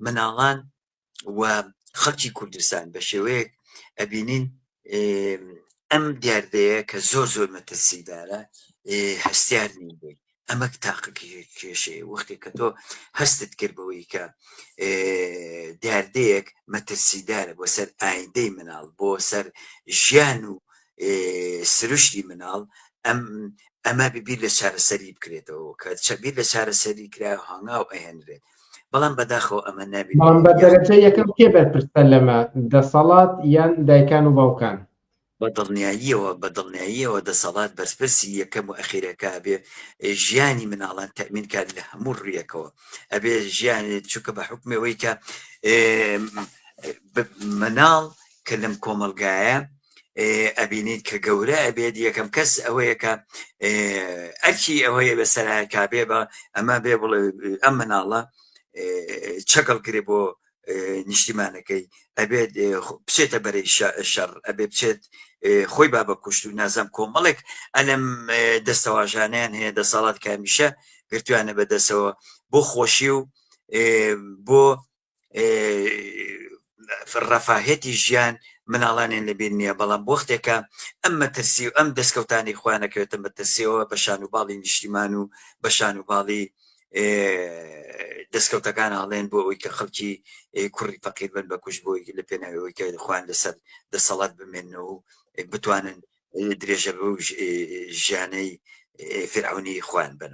مناڵان و خەڵکی کوردستان بە شێوەیەک ئەبینین ئەم دیاردەیە کە زۆر زۆر مەترسیدارە هەستیار نین بووی ئەمە تاقکی کێشەیە وەختێک کە تۆ هەستت کرد بەوەی کە دیاردەیەک مەترسیدارە بۆ سەر ئایندەی مناڵ بۆ سەر ژیان و سروشتی مناڵ ئەم ئەمە ببیر لە چارەسەری بکرێتەوە کە چەبیر لە چارەسەری کرا هەنگاو ئەهێنرێت بەڵام بەداخەوە ئەمە نابێت بە دەرەجە یەکەم کێ بەرپرسە لەمە دەسەڵات یان دایکان و باوکان بە دڵنیاییەوە بە دڵنیاییەوە دەسەڵات بەرپرسی یەکەم و ئەخیرەکە بێ ژیانی مناڵان تەمین کات لە هەموو ڕویەکەوە ئەبێ ژیانێت چووکە بە حکمەوەی کە مناڵ کە لەم کۆمەلگایە ئەبینیت کە گەورە ئەبێت یەکەم کەس ئەوەیە کە ئەرکی ئەوەیە بە سەرایەکا بێ بە ئەمە بێ بڵێ ئەم مناڵە چەکەڵ گرێ بۆ نیشتیمانەکەی ئەبێت بچێتە بەرەی شەڕ ئەبێ بچێت خۆی با بە کوشت و نازم کۆمەڵێک ئەلم دەستەواژانیان هەیە دەسەڵات کامیشە گرتوانە بەدەسەوە بۆ خۆشی و بۆ ڕەفاهێتی ژیان مناڵانێن لەبیر نییە بەڵام بۆختێکە ئەم مەترسی و ئەم دەستکەوتانی خوانەکەوێتە مەترسیەوە بە شان و باڵی نیشتیمان و بە شان و باڵی دەستکەوتەکان ئاڵێن بۆ ئەوی کە خەڵکی کوڕی فەقیر بن بە کوش بۆی لە پێناوەوەی کە خوان لەسەر دەسەڵات بمێنەوە و بتوانن درێژە بە ژیانەی فرعونی خوان بنەوە